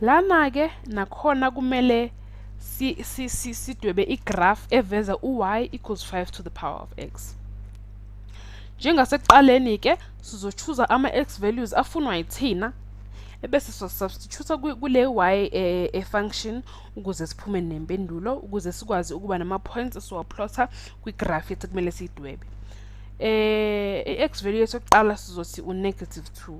Lana-ke nakhona kumele sidwebe igraph eveza u-y equals 5 to the power of x. Njengasekuqaleni-ke sizochuza ama-x values afunwa yithina ebese sosubstitute kule y eh, e-function ukuze siphume nempendulo ukuze sikwazi ukuba nama-points esiwaplotha kwigraph ethi kumele siyidwebe. Eh, i-x value yethu yokuqala sizothi u-negative 2.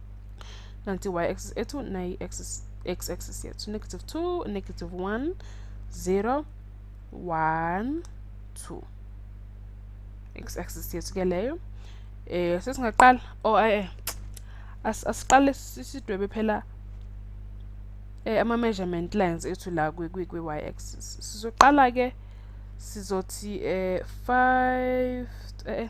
nanti y axis ethu nayi axis x axis yethu negative 2 negative 1 0 1 2 x axis yethu ke leyo eh sesingaqala oh eh asiqale sidwebe phela eh ama measurement lines ethu la kwi kwi y axis sizoqala ke sizothi eh 5 eh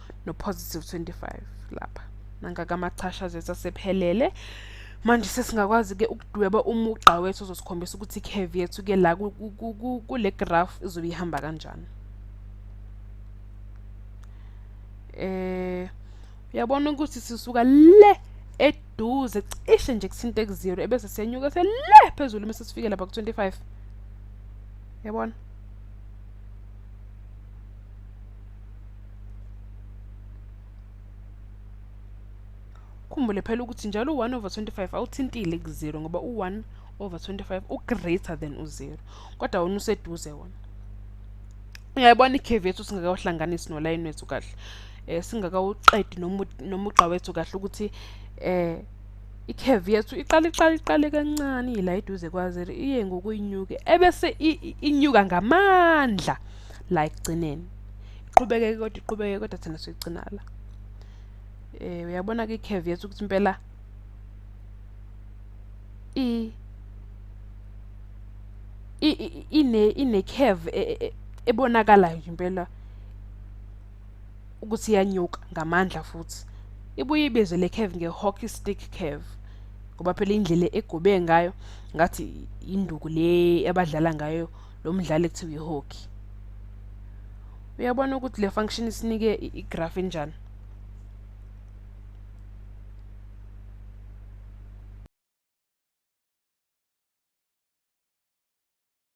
nopositive 25 lapha nangaka amachashazi ethu asephelele manje sesingakwazi-ke ukudweba umugqa wethu ozosikhombisa ukuthi i-cave yethu-ke la kule graph izobe ihamba kanjani eh uyabona ukuthi sisuka le eduze cishe nje kuthinte ku-zero ebese siyenyuka se le phezulu uma sesifike lapha ku-25 yabona ukhumbule phela ukuthi njalo u-1 over 25 awuthintile ku-0 ngoba u-1 over 25 u-greater than u-0 kodwa wona useduze wona uyayibona ikhevi yethu singakawuhlanganisi nolayini wethu kahle um singakawuqedi nomugqa wethu kahle ukuthi um ikhevi yethu iqale iqale iqale kancane ila iduze kwa-0 iye ngokuyinyuke ebese inyuka ngamandla la ekugcineni iqhubeke kodwa iqhubeke kodwa thina sigcina la eh uyabona ke curve yethu ukuthi impela i ine ine curve e, e, e, ebonakalayo nje impela ukuthi iyanyuka ngamandla futhi ibuye ibize le curve nge hockey stick curve ngoba phela indlela egobe ngayo ngathi induku le abadlala ngayo lo mdlali ekuthiwa ihockey uyabona ukuthi le function isinike igraph enjani